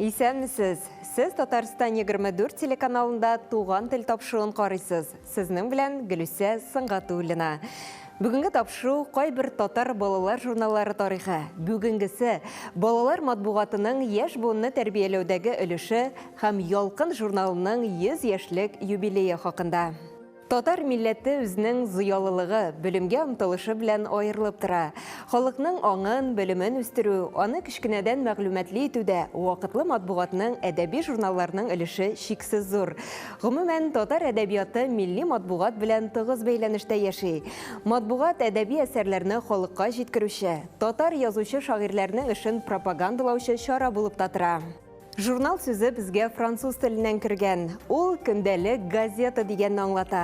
Исәнмесез! Сез Татарстан егерме дүрт телеканалында Туган тел тапшыруын карыйсыз. Сезнең белән Гөлүсә Сынгатуллина. Бүгенге тапшыру кайбер татар балалар журналлары тарихы, бүгенгесе, балалар матбугатының яшь буынны тәрбияләүдәге өлеше һәм Ялкын журналының 100 яшьлек юбилее хакында. Татар милләте үзенең зыялылыгы, белемгә омтылышы белән аерылып тора. Халыкның аңын, белемен үстерү, аны кечкенәдән мәгълүматлы итүдә вакытлы матбугатның, әдәби журналларның өлеше чиксез зур. Гомумән, татар әдәбияты милли матбугат белән тыгыз бәйләнештә яши. Матбугат, әдәби әсәрләрне халыкка җиткерүче, татар язучы-шагыйрьләрнең эшен пропагандалаучы чара булып та тора. Журнал сүзе безгә француз теленнән кергән. Ул көндәлек газета дигәнне аңлата.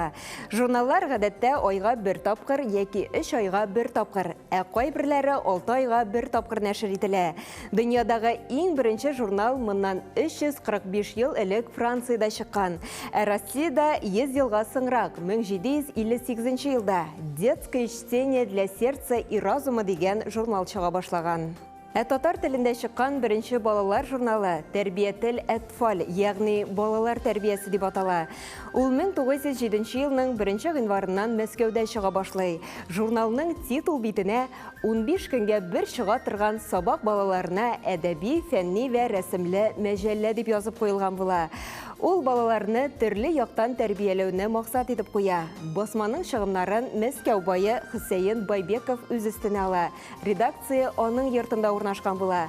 Журналлар гадәттә айга бер тапкыр яки өч айга бер тапкыр, ә кайберләре алты айга бер тапкыр нәшер ителә. Дөньядагы иң беренче журнал моннан 345 ел элек Франциядә чыккан, ә Россиядә 100 елга соңрак, 1758 елда Детское чтение для сердца и разума дигән журнал чыга башлаган. Ә татар телендә чыккан беренче балалар журналы Тәрбиятел әтфаль, ягъни балалар тәрбиясе дип атала. Ул 1907 елның 1 гыйнварыннан Мәскәүдә чыга башлый. Журналның титул битенә 15 көнгә бер чыга торган сабак балаларына әдәби, фәнни вә рәсемле мәҗәллә дип язып куелган була. Ул балаларны төрле яктан тәрбияләүне максат итеп куя. Басманың чыгымнарын Мәскәү бае Хөсәен Байбеков үз өстенә ала. Редакция аның йортында урнашкан була.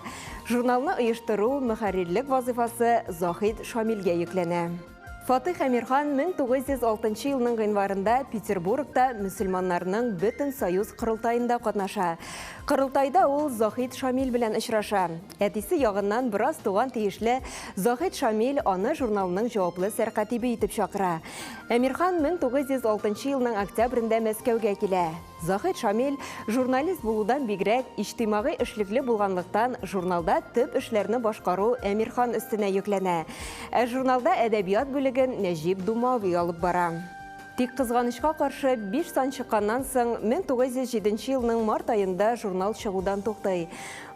Журналны оештыру, мөхәррирлек вазыйфасы Заһид Шамилгә йөкләнә. Фатыйх Әмирхан 1906 елның гыйнварында Петербургта мөселманнарның бөтен союз корылтаенда катнаша. Корылтайда ул Заһид Шамил белән очраша. Әтисе ягыннан бераз туган тиешле Заһид Шамил аны журналның җаваплы сәркатибе итеп чакыра. Әмирхан 1906 елның октябрендә Мәскәүгә килә. Заһит Шамил, журналист булудан бигрәк, иҗтимагый эшлекле булганлыктан, журналда төп эшләрне башкару Әмирхан өстенә йөкләнә. Ә журналда әдәбият бүлеген Нәҗип Думави алып бара. Тик кызганычка каршы, биш сан чыкканнан соң, 1907 елның март аенда журнал чыгудан туктый.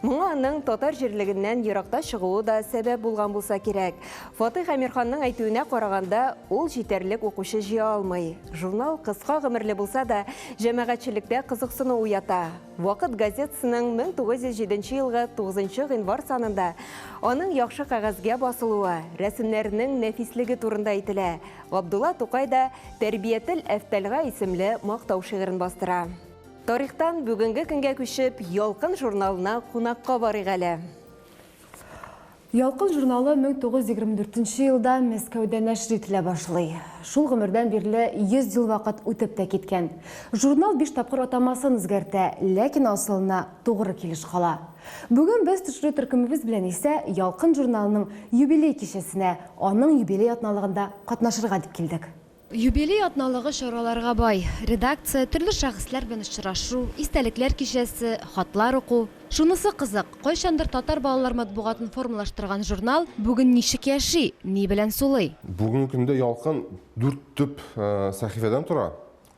Моңа аның татар җирлегеннән еракта чыгуы да сәбәп булган булса кирәк. Фатыйх Әмирханның әйтүенә караганда, ул җитәрлек укучы җыя алмый. Журнал кыска гомерле булса да, җәмәгатьчелектә кызыксыну уята. Вакыт газетасының 1907 елгы 9 гыйнвар санында аның яхшы кәгазьгә басылуы, рәсемнәренең нәфислеге турында әйтелә. Габдулла Тукай да Тәрбиятел әфтәлгә исемле мактау шигырен бастыра. Тарихтан бүгенге көнгә күчеп, Ялкын журналына кунакка барыйк әле. Ялкын журналы 1924 нче елда Мәскәүдә нәшер ителә башлый. Шул гомердән бирле 100 ел вакыт үтеп тә киткән. Журнал биш тапкыр атамасын үзгәртә, ләкин асылына тугры килеш кала. Бүген без төшерү төркемебез белән исә Ялкын журналының юбилей кичәсенә, аның юбилей атналыгында катнашырга дип килдек. Юбилей атналыгы чараларга бай. Редакция, төрле шәхесләр белән очрашу, истәлекләр кичәсе, хатлар уку. Шунысы кызык, кайчандыр татар балалар матбугатын формалаштырган журнал бүген ничек яши, ни белән сулый? Бүгенге көндә Ялкын дүрт төп сәхифәдән тора,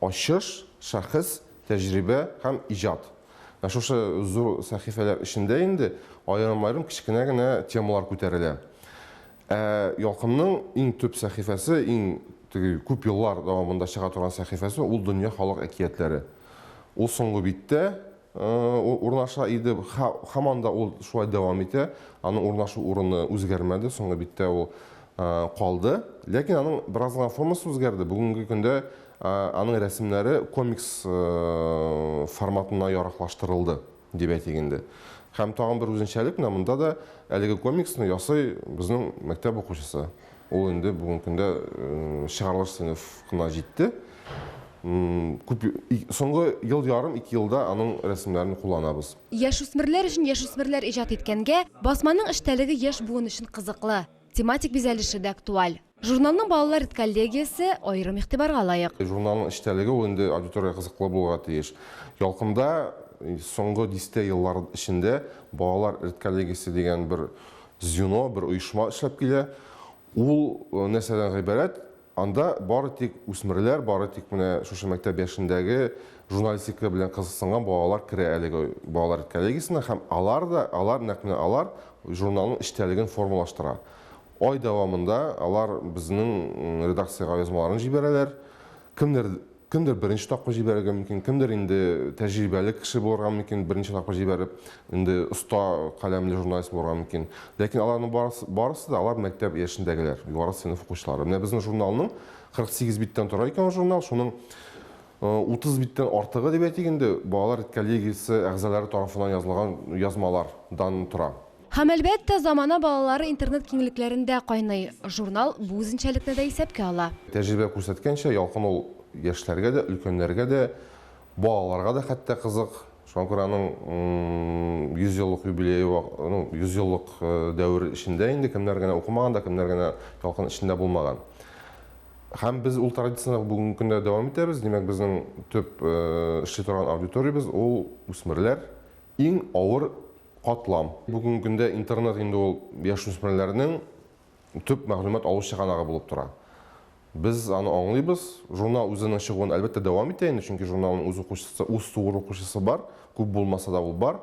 Ачыш, Шәхес, Тәҗрибә һәм Иҗат. Менә шушы зур сәхифәләр эчендә инде аерым-аерым кечкенә генә темалар күтәрелә. Ә Ялкынның иң төп сәхифәсе, иң теге күп еллар дәвамында чыга торган сәхифәсе ул Дөнья халык әкиятләре. Ул соңгы биттә урнаша иде, һаман да ул шулай дәвам итә. Аның урнашу урыны үзгәрмәде, соңгы биттә ул калды. Ләкин аның бераз гына формасы үзгәрде. Бүгенге көндә аның рәсемнәре комикс форматына яраклаштырылды. дип әйтик инде. Һәм тагын бер үзенчәлек менә монда да әлеге комиксны ясый безнең мәктәп укучысы. Ул инде бүгенге көндә чыгарылыш сыйныфына җитте. Күп соңгы ел ярым, ике елда аның рәсемнәрен кулланабыз. Яшүсмерләр өчен яшүсмерләр иҗат иткәнгә, басманың эчтәлеге яшь буын өчен кызыклы, тематик бизәлеше дә актуаль. Журналның балалар редколлегиясе аерым игътибарга лаек. Журналның эчтәлеге ул инде аудиториягә кызыклы булырга тиеш. Ялкында соңгы дистә еллар эчендә балалар редколлегиясе дигән бер звено, бер оешма эшләп килә. Ул нәрсәдән гыйбарәт? Анда бары тик үсмерләр, бары тик менә шушы мәктәп яшендәге журналистика белән кызыксынган балалар керә әлеге балалар редколлегиясенә һәм алар да, алар, нәкъ менә алар журналның эчтәлеген формалаштыра. Ай дәвамында алар безнең редакциягә язмаларын җибәрәләр. Кемдер, кемдер беренче тапкыр җибәрергә мөмкин, кемдер инде тәҗрибәле кеше булырга мөмкин, берничә тапкыр җибәреп, инде оста каләмле журналист булырга мөмкин. Ләкин аларның барысы, барысы да алар мәктәп яшендәгеләр, югары сыйныф укучылары. Менә безнең журналның 48 биттән тора икән ул журнал, шуның 30 биттән артыгы дип әйтик инде, балалар редколлегиясе әгъзалары тарафыннан язылган язмалардан тора. Һәм, әлбәттә, замана балалары интернет киңлекләрендә кайный. Журнал бу үзенчәлекне дә исәпкә ала. Тәҗрибә күрсәткәнчә, Ялкын ул яшьләргә дә, өлкәннәргә дә, балаларга да хәтта кызык. Шуңа күрә аның 100 еллык юбилее, ну, 100 еллык дәвер эчендә инде кемнәр генә укымаган да, кемнәр генә Ялкын эчендә булмаган. Һәм без ул традицияне бүгенге көндә дә дәвам итәбез. Димәк, безнең төп эшли торган аудиториябез, ул үсмерләр, иң авыр, катлам. Бүгенге көндә интернет инде ул яшүсмерләрнең төп мәгълүмат алу чыганагы булып тора. Без аны аңлыйбыз. Журнал үзенең чыгуын, әлбәттә, дәвам итә инде, чөнки журналның үз укучысы, үз тугры укучысы бар, күп булмаса да ул бар.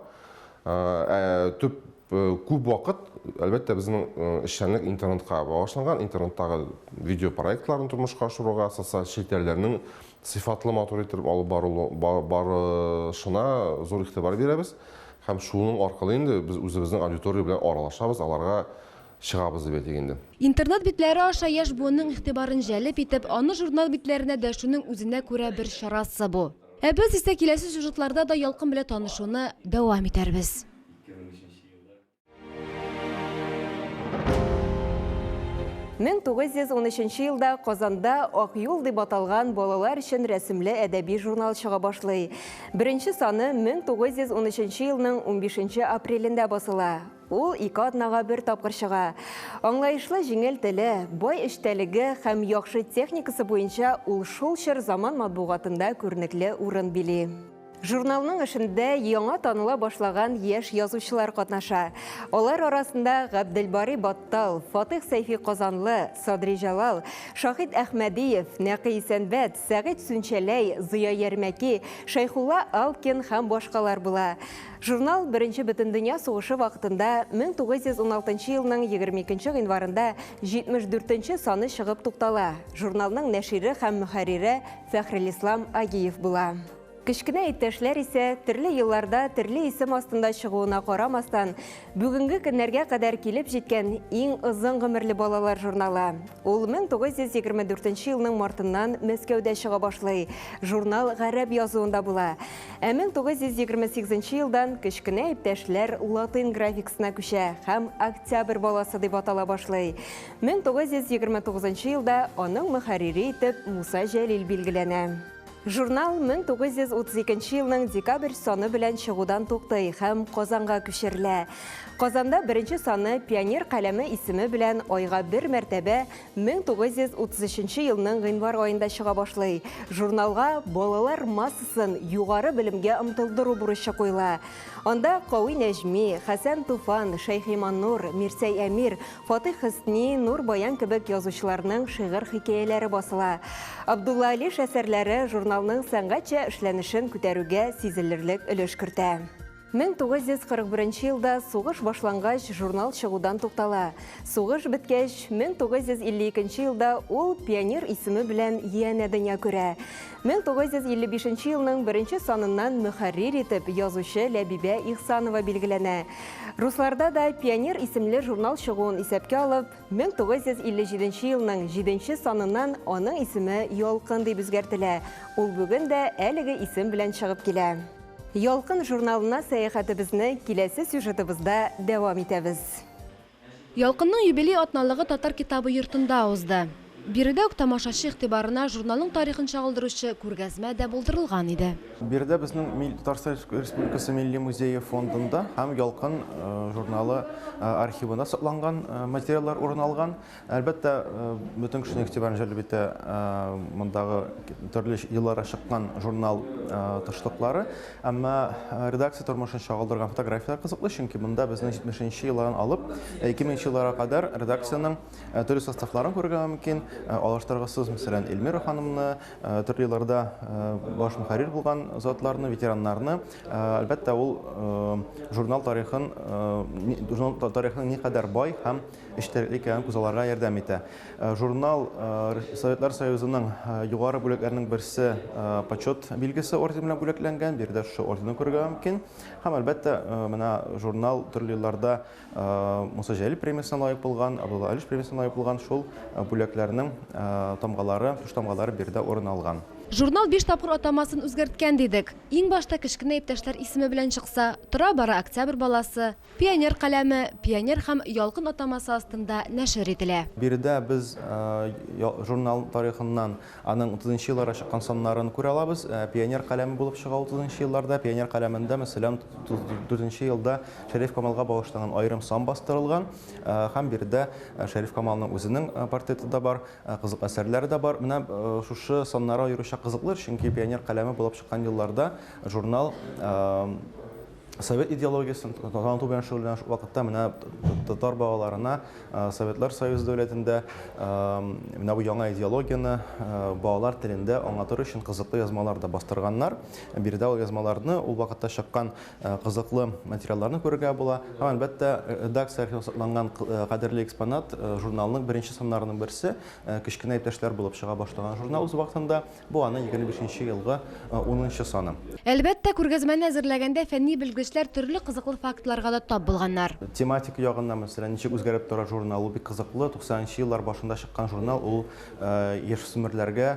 Ә төп күп вакыт, әлбәттә, безнең эшчәнлек интернетка багышланган, интернеттагы видеопроектларны тормышка ашыруга, социаль челтәрләрнең сыйфатлы, матур итеп алып барылу, ба- барышына зур игътибар бирәбез. Һәм шуның аркылы инде без үзебезнең аудитория белән аралашабыз, аларга чыгабыз дип әйтик инде. Интернет битләре аша яшь буынның игътибарын җәлеп итеп, аны журнал битләренә дәшүнең үзенә күрә бер чарасы бу. Ә без исә киләсе сюжетларда да Ялкын белән танышуны дәвам итәрбез. 1913 елда Казанда Ак юл дип аталган балалар өчен рәсемле әдәби журнал чыга башлый. Беренче саны 1913 елның 15 апрелендә басыла. Ул ике атнага бер тапкыр чыга. Аңлаешлы җиңел теле, бай эчтәлеге һәм яхшы техникасы буенча ул шул чор заман матбугатында күренекле урын били. Журналның эшендә яңа таныла башлаган яшь язучылар катнаша. Алар арасында Габделбари Баттал, Фатих Сәйфи Казанлы, Садри Җалал, Шахид Әхмәдиев, Нәкый Исәнбәт, Сәгыйть Сүнчәләй, Зыя Ярмәки, Шәйхулла Алкин һәм башкалар була. Журнал Беренче бөтендөнья сугышы вакытында 1916 елның 22 гыйнварында 74 саны чыгып туктала. Журналның нәшире һәм мөхәррире Фәхрелислам Агиев була. Кечкенә иптәшләр исә, төрле елларда төрле исем астында чыгуына карамастан, бүгенге көннәргә кадәр килеп җиткән иң озын гомерле балалар журналы. Ул 1924 елның мартыннан Мәскәүдә чыга башлый. Журнал гарәп язуында була. Ә 1928 елдан кечкенә иптәшләр латин графикасына күчә һәм Октябрь баласы дип атала башлый. 1929 елда аның мөхәррире итеп Муса Җәлил билгеләнә. Журнал 1932 елның декабрь саны белән чыгудан туктый һәм Казанга күчерелә. Казанда беренче саны Пионер каләме исеме белән айга бер мәртәбә 1933 елның гыйнвар аенда чыга башлый. Журналга балалар массасын югары белемгә омтылдыру бурычы куела. Анда Кави Нәҗми, Хәсән Туфан, Шәйхиманнур, Мирсәй Әмир, Фатыйх Хөсни, Нур Баян кебек язучыларның шигырь-хикәяләре басыла. Абдулла Алиш әсәрләре журналның сәнгатьчә эшләнешен күтәрүгә сизелерлек өлеш кертә. 1941 елда сугыш башлангач, журнал чыгудан туктала. Сугыш беткәч, 1952 елда ул пионер исеме белән янә дөнья күрә. 1955 нче елның беренче саныннан мөхәррир итеп язучы Ләбибә Ихсанова билгеләнә. Русларда да Пионер исемле журнал чыгуын исәпкә алып, 1957 елның җиденче саныннан аның исеме Ялкын дип үзгәртелә, ул бүген дә әлеге исем белән чыгып килә. Ялкын журналына сәяхәтебезне киләсе сюжетыбызда дәвам итәбез. Ялкынның юбилей атналыгы Татар китабы йортында узды. Биредә үк тамашачы игътибарына журналның тарихын чагылдыручы күргәзмә дә булдырылган иде. Биредә безнең Татарстан Республикасы Милли музее фондында һәм Ялкын журналы архивында сакланган материаллар урын алган. Әлбәттә, бөтен кешенең игътибарын җәлеп итә мондагы төрле елларда чыккан журнал тышлыклары. Әмма редакция тормышын чагылдырган фотографияләр кызыклы, чөнки монда безнең 70 нче еллардан алып 2000 нче елларга кадәр редакциянең төрле составларын күрергә мөмкин. Алыштыргысыз, мәсәлән, Эльмира ханымны, төрле елларда баш мөхәррир булган затларны, ветераннарны. Әлбәттә, ул журнал тарихын, журнал тарихының никадәр бай һәм эчтәлекле икәнен күзалларга ярдәм итә. Журнал Советлар Союзының югары бүләкләренең берсе Почет билгесе ордены белән бүләкләнгән, биредә шушы орденны күрергә мөмкин. Һәм, әлбәттә, менә журнал төрле елларда Муса Җәлил премиясенә лаек булган, Абдулла Алиш премиясенә лаек булган шул бүләкләрнең тамгалары, түштамгалары биредә урын алган. Журнал биш тапкыр атамасын үзгәрткән дидек. Иң башта кечкенә иптәшләр исеме белән чыкса, тора-бара Октябрь баласы, Пионер каләме, Пионер һәм Ялкын атамасы астында нәшер ителә. Биредә без журнал тарихыннан аның утызынчы елларда чыккан саннарын күрә алабыз. Пионер каләме булып чыга утызынчы елларда. Пионер каләмендә, мәсәлән, утыз дүртенче елда Шәриф Камалга багышланган аерым сан бастырылган һәм биредә Шәриф Камалның үзенең портреты да бар, кызык әсәрләре дә бар. Менә шушы саннары аеруча кызыклы, чөнки пионер каләме булып чыккан елларда журнал совет идеологиясен таныту белән шөгыльләнә шул вакытта менә татар балаларына Советлар Союзы дәүләтендә менә бу яңа идеологияне балалар телендә аңлатыр өчен кызыклы язмалар да бастырганнар. Биредә ул язмаларны, ул вакытта чыккан кызыклы материалларны күрергә була. Һәм әлбәттә, редакция архивы сакланган кадерле экспонат, журналның беренче саннарының берсе, кечкенә иптәшләр булып чыга башлаган журнал үз вакытында Бу аның егерме бишенче елгы унынчы саны. Әлбәттә, күргәзмәне әзерләгәндә фәнни белгечләр төрле кызыклы фактларга да тап булганнар. Тематик ягыннан, мәсәлән, ничек үзгәреп тора журнал, ул бик кызыклы. Туксанынчы еллар башында чыккан журнал, ул яшүсмерләргә,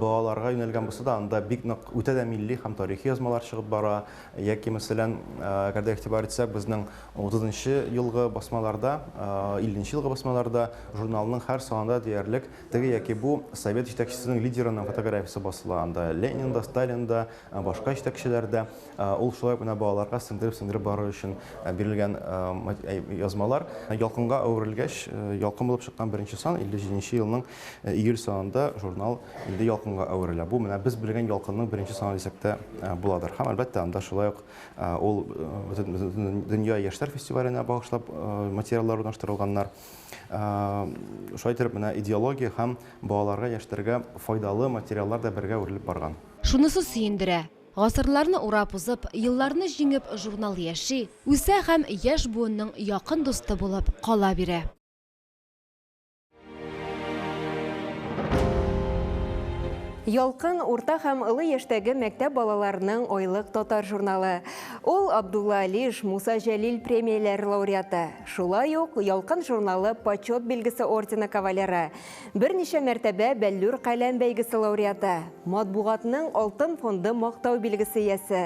балаларга юнәлгән булса да, анда бик нык үтә дә милли һәм тарихи язмалар чыгып бара. Яки, мәсәлән, әгәр дә игътибар итсәк, безнең утызынчы елгы басмаларда, илленче елгы басмаларда журналның һәр санында диярлек Теге яки бу совет җитәкчесенең лидерының фотографиясе басыла анда. Ленин да, Сталин да, башка җитәкчеләр дә. Ул шулай менә балаларга сеңдереп-сеңдереп бару өчен бирелгән язмалар. Ялкынга әверелгәч, Ялкын булып чыккан беренче сан 57 нче елның июль санында журнал инде Ялкынга әверелә. Бу менә без белгән Ялкынның беренче саны дисәк тә буладыр. Һәм, әлбәттә, анда шулай ук ул бөтен дөнья яшьләр фестиваленә багышлап материаллар урнаштырылганнар. Шулай итеп, менә идеология һәм балаларга, яшьтәргә файдалы материаллар да бергә үрелеп барган. Шунысы сөендерә, гасырларны урап узып, елларны җиңеп, журнал яши, үсә һәм яшь буынның якын дусты булып кала бирә. Ялкын, урта һәм олы яшьтәге мәктәп балаларының айлык татар журналы. Ул, Абдулла Алиш, Муса Җәлил премияләре лауреаты. Шулай ук Ялкын журналы Почет билгесе ордены кавалеры, берничә мәртәбә Бәллүр каләм бәйгесе лауреаты, матбугатның Алтын фонды Мактау билгесе иясе,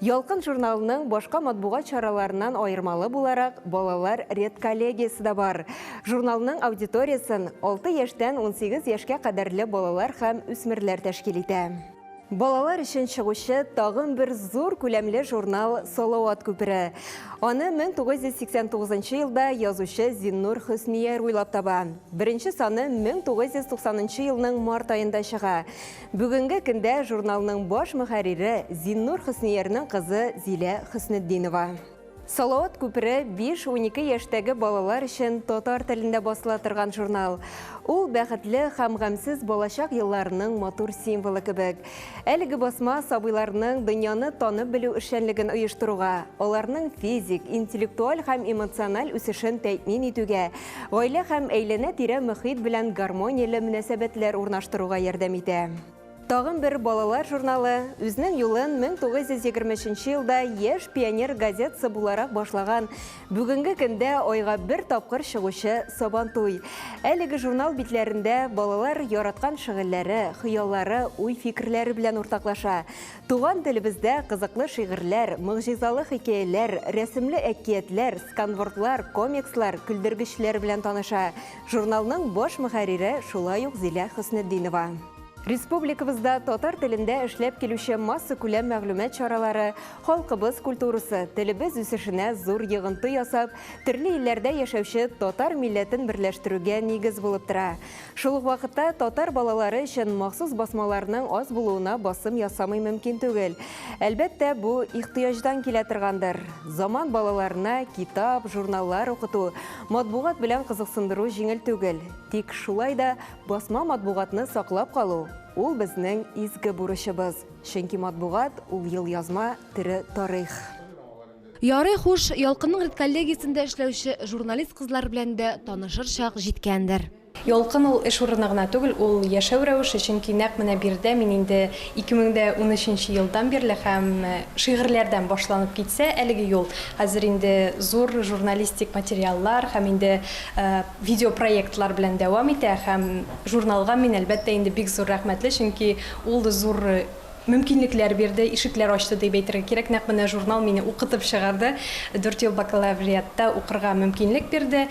Ялкын журналының башка матбугат чараларыннан аермалы буларак, балалар редколлегиясе дә бар. Журналның аудиториясен алты яшьтән унсигез яшькә кадәрле балалар һәм үсмерләр тәшкил итә. Балалар өчен чыгучы тагын бер зур күләмле журнал Салават күпере. Аны 1989 елда язучы Зиннур Хөснияр уйлап таба. Беренче саны 1990 елның март аенда чыга. Бүгенге көндә журналның баш мөхәррире Зиннур Хөсниярның кызы Зилә Хөснетдинова. Салават күпере биш, унике яшьтәге балалар өчен татар телендә басыла торган журнал. Ул бәхетле һәм гамьсез балачак елларының матур символы кебек. Әлеге басма сабыйларның дөньяны танып белү эшчәнлеген оештыруга, аларның физик, интеллектуаль һәм эмоциональ үсешен тәэмин итүгә, гаилә һәм әйләнә-тирә мөхит белән гармонияле мөнәсәбәтләр урнаштыруга ярдәм итә. Тагын бер балалар журналы үзнең юлын 1923 елда Яшь пионер газетасы буларак башлаган, бүгенге көндә айга бер тапкыр чыгучы Сабантуй. Әлеге журнал битләрендә балалар яраткан шыгыльләре, хыяллары, уй-фикерләре белән уртаклаша. Туган телебездә кызыклы шигырьләр, могҗизалы хикәяләр, рәсемле әкиятләр, сканвордлар, комикслар, көлдергечләр белән таныша. Журналның баш мөхәррире шулай ук Зилә Хөснетдинова. Республикабызда татар телендә эшләп килүче масса күләм мәгълүмат чаралары халкыбыз культурасы, телебез үсешенә зур йогынты ясап, төрле илләрдә яшәүче татар милләтен берләштерүгә нигез булып тора. Шул ук вакытта татар балалары өчен махсус басмаларның аз булуына басым ясамый мөмкин түгел. Әлбәттә, бу ихтыяҗдан килә торгандыр. Заман балаларына китап, журналлар укыту, матбугат белән кызыксындыру җиңел түгел. Тик шулай да Басма матбугатны саклап калу, ул безнең изге бурычыбыз, чөнки матбугат, ул елъязма, тере тарих. Ярый хуш, Ялкынның редколлегиясендә эшләүче журналист кызлар белән дә танышыр чак җиткәндер. Ялкын ул эш урыны гына түгел, ул яшәү рәвеше, чөнки нәкъ менә биредә мин инде 2013 нче елдан бирле һәм шигырьләрдән башланып китсә әлеге юл, хәзер инде зур журналистик материаллар һәм инде Видеопроектлар белән дәвам итә һәм журналга мин, әлбәттә инде, бик зур рәхмәтле, чөнки ул зур мөмкинлекләр бирде, ишекләр ачты дип әйтергә кирәк. Нәкъ менә журнал мине укытып чыгарды, дүрт ел бакалавриатта укырга мөмкинлек бирде,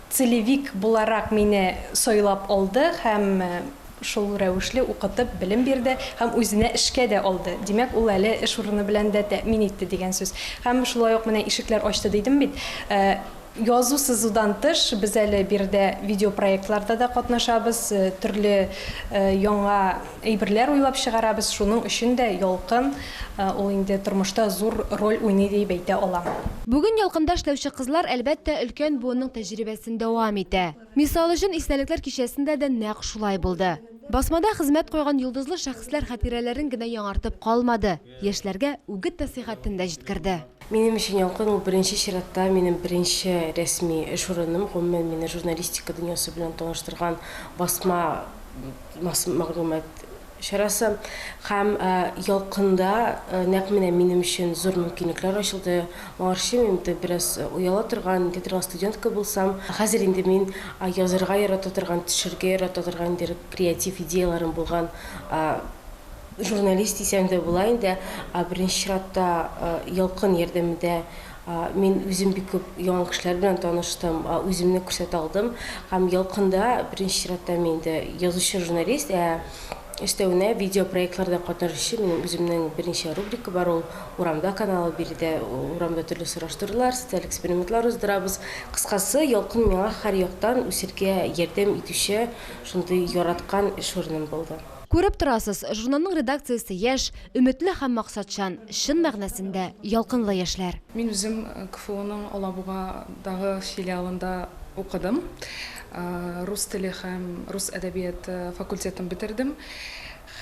целевик буларак мине сайлап алды һәм шул рәвешле укытып, белем бирде һәм үзенә эшкә дә алды. Димәк, ул әле эш урыны белән дә тәэмин итте дигән сүз. Һәм шулай ук менә ишекләр ачты дидем бит. Язу-сызудан тыш, без әле биредә видеопроектларда да катнашабыз, төрле яңа әйберләр уйлап чыгарабыз, шуның өчен дә Ялкын ул инде тормышта зур роль уйный диеп әйтә алам. Бүген Ялкында эшләүче кызлар, әлбәттә, өлкән буынның тәҗрибәсен дәвам итә. Мисал өчен, Истәлекләр кичәсендә дә нәкъ шулай булды. Басмада хезмәт куйган йолдызлы шәхесләр хатирәләрен генә яңартып калмады. Яшьләргә үгет-нәсыйхәтен дә җиткерде. Минем өчен Ялкын ул беренче чиратта минем беренче рәсми эш урыным. Гомумән, мине журналистика дөньясы белән таныштырган басма мәгълүмат чарасы. Һәм Ялкында нәкъ менә минем өчен зур мөмкинлекләр ачылды. Моңарчы мин бит бераз ояла торган, ничә торган студентка булсам, хәзер инде мин язырга ярата торган, төшерергә ярата торган, ниндидер креатив идеяләрем булган Журналист дисәң дә була инде. Ә беренче чиратта Ялкын ярдәмендә мин үзем бик күп яңа кешеләр белән таныштым, үземне күрсәтә алдым. Һәм Ялкында беренче чиратта мин инде язучы журналист, ә өстәвенә видеопроектларда катнашучы минем үземнең берничә рубрика бар, ул Урамда каналы, биредә урамда төрле сораштырулар, социаль экспериментлар уздырабыз. Кыскасы, Ялкын миңа һәр яктан үсергә ярдәм итүче шундый яраткан эш урыным булды. Күреп торасыз, журналның редакциясе яшь, өметле һәм максатчан, чын мәгънәсендә ялкынлы яшьләр. Мин үзем КФУның Алабугадагы филиалында укыдым. Рус теле һәм рус әдәбияты факультетын бетердем.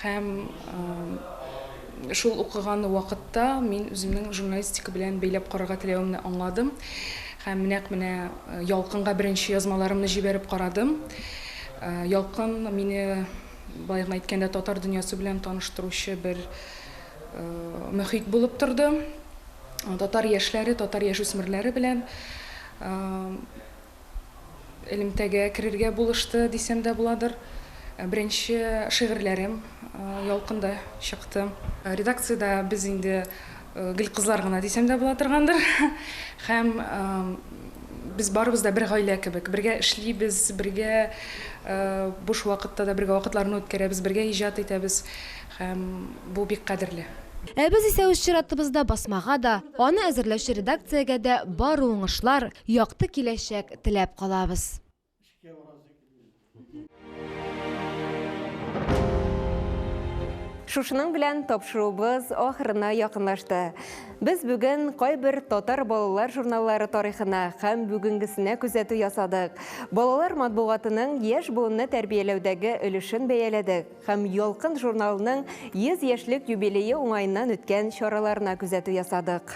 Һәм шул укыган вакытта мин үземнең журналистика белән бәйләп карарга теләвемне аңладым. Һәм нәкъ менә Ялкынга беренче язмаларымны җибәреп карадым. Ялкын мине Баемы әйткәндә, татар дөньясы белән таныштыручы бер мөхит булып торды. Татар яшьләре, татар яшүсмерләре белән элемтәгә керергә булышты, дисәм дә буладыр. Беренче шигырьләрем Ялкында чыкты. Редакциядә без инде Гел кызлар гына дисәм дә була торгандыр. Һәм без барыбыз да бер гаилә кебек. Бергә эшлибез, бергә буш вакытта да бергә вакытларны үткәрәбез, бергә иҗат итәбез. Һәм бу бик кадерле. Ә без исә үз чиратыбызда басмага да, аны әзерләүче редакциягә дә бары уңышлар, якты киләчәк теләп калабыз. Эшкә барасы Шушының белән тапшыруыбыз ахырына якынлашты. Без бүген кайбер татар балалар журналлары тарихына һәм бүгенгесенә күзәтү ясадык. Балалар матбугатының яшь буынны тәрбияләүдәге өлешен бәяләдек һәм Ялкын журналының 100 яшьлек юбилее уңаеннан үткән чараларына күзәтү ясадык.